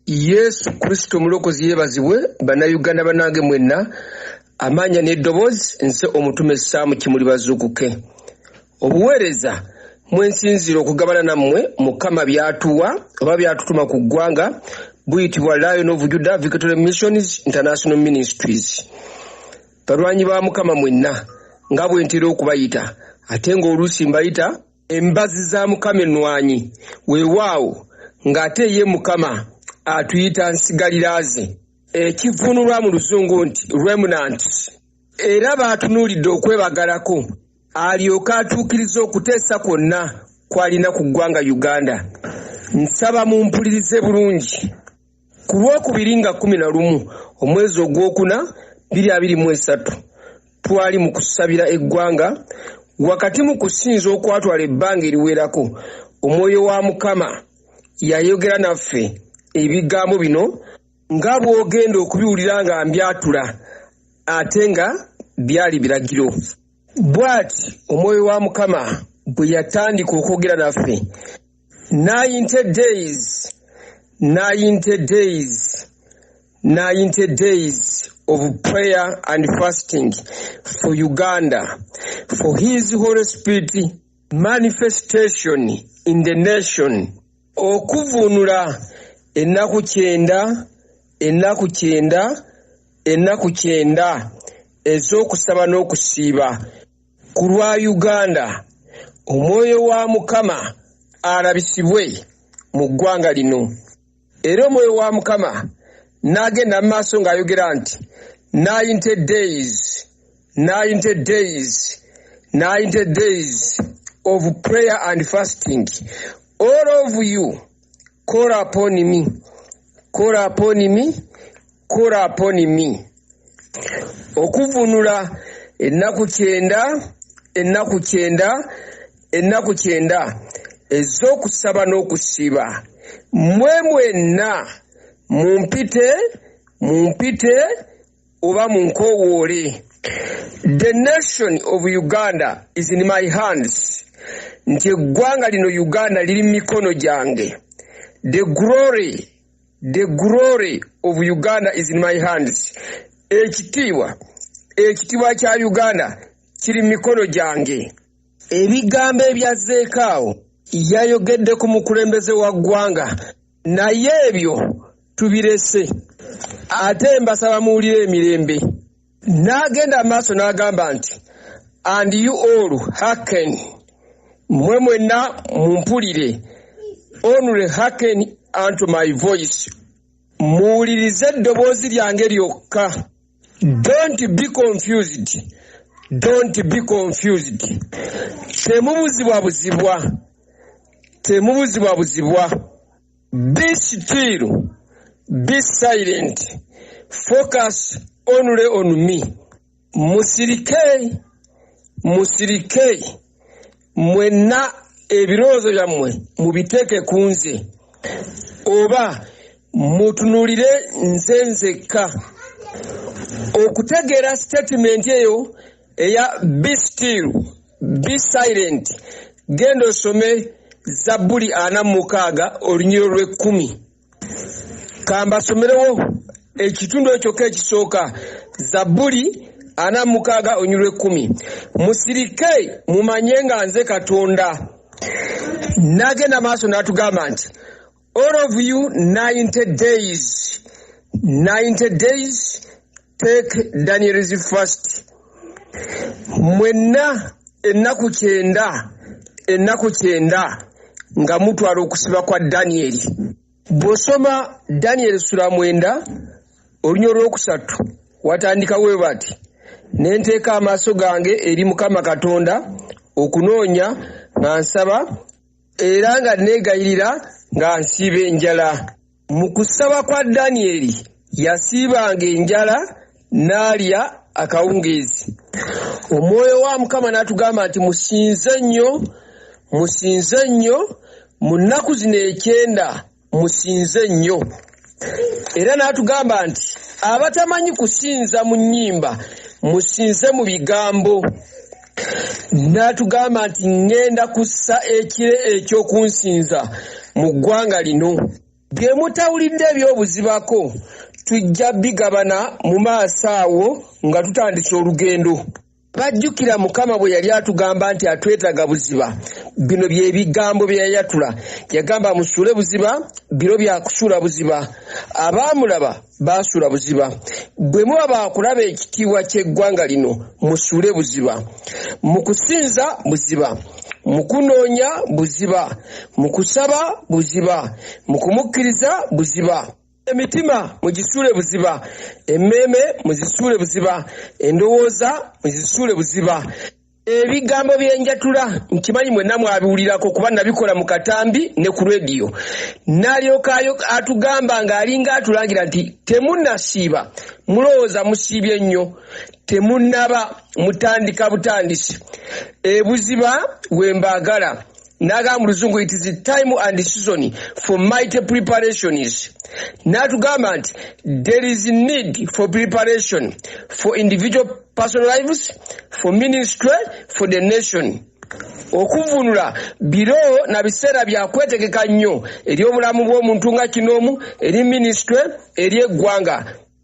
yesu kristo omulokozi yebazibwe bannayuganda banange mwenna amaanya n'eddoboozi nze omutume saamu kimuli bazuukuke obuweereza mwensinziira okugabana nammwe mukama byatuwa oba byatutuma ku ggwanga buyitibwa lion of juda victory missions international ministries balwanyi ba mukama mwenna nga bwentera okubayita ate ng'oluusi mbayita Embazi za Mukama ennwanyi, weewaawo, ng'ate ye Mukama atuyita nsigalira ze, ekivvuunulwa mu Luzungu nti remnant. Era baatunuulidde okwebagalako alyoke atuukirize okuteesa kwonna kw'alina ku ggwanga Uganda. Nsaba mumpulirize bulungi. Ku lwokubiri nga kkumi na lumu omwezi ogwokuna biri abiri mu esatu twali mu kusabira eggwanga wakati mu kusinza okwatwala ebbanga eriwerako omwoyo wa Mukama yayogera naffe ebigambo bino nga bw'ogenda okubiwulira nga mbyatula ate nga byali biragiro bw'ati omwoyo wa mukama bwe yatandika okwogera naffe 90 days 90 days 90 days of prayer and fasting for Uganda for his Holy Spirit manifestation in the nation okuvunula ennaku kyenda ennaku kyenda ennaku kyenda ez'okusaba n'okusiiba Ku lwa Uganda, omwoyo wa Mukama alabisibwe mu ggwanga lino era omwoyo wa Mukama n'agenda mu maaso ng'ayogera nti ninety days ninety days ninety days of prayer and fasting all of you Call upon me. Call upon me. Call upon me. Okuvunula ennaku kyenda, ennaku kyenda, ennaku kyenda ez'okusaba n'okusiba. Mmwe mwenna mumpite, mumpite, oba munkowoole the nation of uganda is in my hands nti eggwanga lino uganda liri mu mikono gyange the glory the glory of uganda is in my hands ekitiibwa ekitiibwa kya uganda kiri mu mikono gyange ebigambo ebyazzeekaawo yayogedde ku mukulembeze wa ggwanga naye ebyo tubirese ate mbasaba muwulire emirembe n'agenda amaaso n'agamba nti and you all haken mwe mwenna mumpulire only haken unto my voice muwulirize eddoboozi lyange lyokka don't be confused don't be confused temubuzibwa buzibwa temubuzibwa buzibwa Be still, be silent, focus only on me. Musirike, musirike, mwenna ebirowoozo byammwe mubiteeke ku nze oba mutunulire nze nzekka okutegeera sitatimenti eyo eya be still be silent genda osome zabbuli ana mu mukaaga olunyiro lw'ekkumi kambasomerewo ekitundu ekyoka ekisooka zabbuli ana mu mukaaga olunyiro lw'ekkumi musirike mumanye nga nze katonda nagenda maaso n'atugamba nti All of you 90 days, 90 days, take Daniel's first. Mwenna ennaku kyenda, ennaku kyenda nga mutwala okusiba kwa Daniel. Bw'osoma Daniel sula mwenda olunya olwokusatu watandika we bati ne nteeka amaaso gange eri Mukama Katonda okunoonya nga nsaba era nga nneegayirira nga nsiiba enjala. Mu kusaba kwa Danyeri, yasiibanga enjala n'alya akawungeezi. Omwoyo wa Mukama n'atugamba nti, Musinze nnyo, musinze nnyo, mu nnaku zino ekyenda musinze nnyo era n'atugamba nti abatamanyi kusinza mu nnyimba musinze mu bigambo n'atugamba nti ŋŋenda kussa ekire eky'okunsinza mu ggwanga lino bye mutawulidde eby'obuzibako tujja bigabana mu maaso awo nga tutandise olugendo Bajjukira Mukama bwe yali atugamba nti atwetaga buziba. Bino bye bigambo bye yayatula. Yagamba musuule buziba, biro bya kusuula buziba. Abaamulaba baasuula buziba. Bwe muba baakulaba ekitiibwa ky'eggwanga lino, musuule buziba. Mu kusinza buziba. Mu kunoonya buziba. Mu kusaba buziba. Mu kumukkiriza buziba. emitima mugisuule buziba emmeeme muzisuule buziba endowooza muzisuule buziba ebigambo byenjatula nkimanyi mwenna mwabiwulirako kuba nabikola mu katambi ne ku rediyo nalyoka atugamba ng'alinga atulangira nti temunasiiba mulowooza musiibye nnyo temunaba mutandika butandisi ebuziba wembaagala n'agamba mu luzungu it is time and season for mighty preparations n'atugamba nti there is need for preparation for individual personal lives for ministry for the nation okuvunula biro na biseera bya kwetegeka nnyo eri obulamu bw'omuntu nga kinoomu eri minisitule eri eggwanga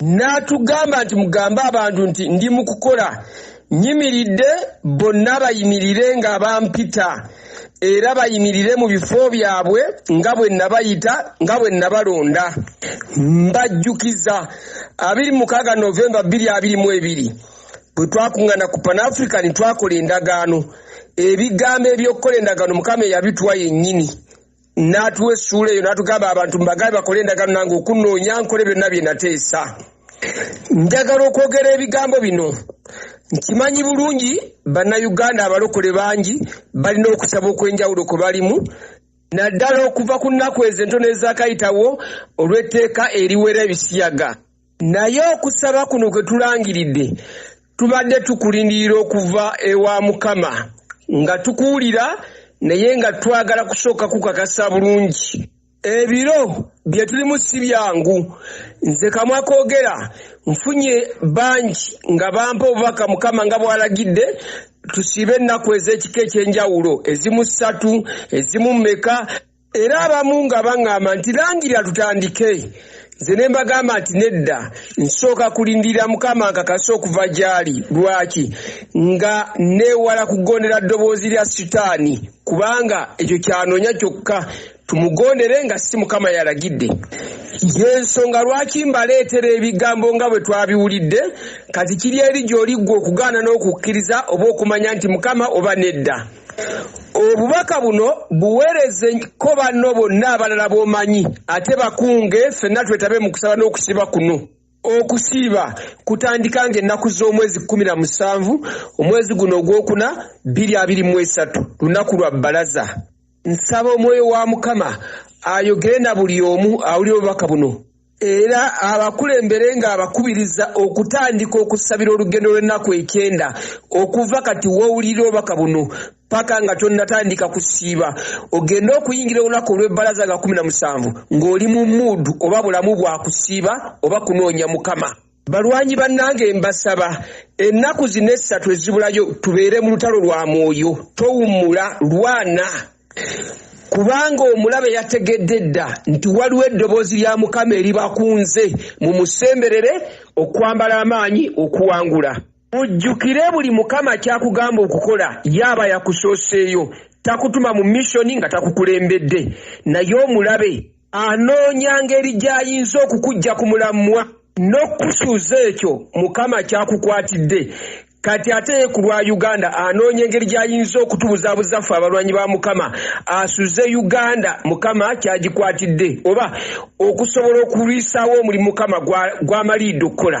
n'atugamba nti mugambe abantu nti ndi mu kukola nyimiridde bonna bayimirire nga bampita era bayimirire mu bifo byabwe nga bwe nabayita nga bwe nabalonda mbajjukiza 26 novemba 222 bwe twakuŋŋana ku panafrica ne twakola endagaano ebigambo eby'okukola endagaano mukama eyabitwa yennyini n'atuwa essuula eyo n'atugamba abantu mbagabe bakole endagaano nange okunoonya nkole byonna bye nateesa njagala okwogera ebigambo bino nkimanyi bulungi bannayuganda abalokole bangi balina okusaba okw'enjawulo kwe balimu naddala okuva ku nnaku ezo entono ezakayitawo olw'etteeka eriwera ebisiyaga naye okusaba kuno kwe tulangiridde tubadde tukulindirira okuva ewa mukama nga tukuwulira naye nga twagala kusooka kukakasa bulungi ebiro bye tulimu si byangu nze kamwa koogera nfunye bangi nga bampa obubaka mukama nga bwalagidde tusiibe ennaku ez'ekika eky'enjawulo ezimu ssatu ezimu meka era abamu nga baŋŋamba nti langira tutandike nze ne mbagamba nti nedda nsooka kulindirira mukama nkakasa okuva gy'ali lwaki nga neewala kugondera ddoboozi lya sitaani kubanga ekyo kyanoonya kyokka tumugondere nga si mukama yalagidde yensonga lwaki mbaleetera ebigambo nga bwe twabiwulidde kati kiri eri gy'oliggwa okugaana n'okukkiriza oba okumanya nti mukama oba nedda obubaka buno buweereze ko banno bonna abalala b'omanyi ate bakunge ffenna twetabe mu kusaba n'okusiba kuno okusiiba kutandika nga ennaku z'omwezi kkumi na musanvu omwezi guno ogwokuna bbiri abiri mu esatu lunaku lwa bbalaza nsaba omwoyo wa mukama ayogere na buli omu awulira obubaka buno era abakulembere ng'abakubiriza okutandika okusabira olugendo lw'ennaku ekyenda okuva kati wowulira obubaka buno paka nga tonnatandika kusiiba ogende okuyingira olunaku olw'ebbalaza nga kumi na musanvu ng'oli mu muudu oba bulamu bwa kusiiba oba kunoonya mukama Balwanyi bannange mbasaba ennaku zino essatu ezibulayo tubeere mu lutalo lwa mwoyo towummula lwana kubanga omulabe yategedde dda nti waliwo eddoboozi lya mukama eribakunze mu musemberere okwambala amaanyi okuwangula mujjukire buli mukama kyakugamba okukola yaaba yakusooseeyo takutuma mu missoni nga takukulembedde naye omulabe Anoonya ngeri gy'ayinza okukuggya ku mulamwa n'okukusuuza ekyo Mukama ky'akukwatidde. Kati ate ye ku lwa Uganda anoonya engeri gy'ayinza okutubuzaabuza ffe abalwanyi ba Mukama asuze Uganda Mukama kyagikwatidde oba okusobola okulwisaawo omulimu Mukama gw'amaliidde okukola.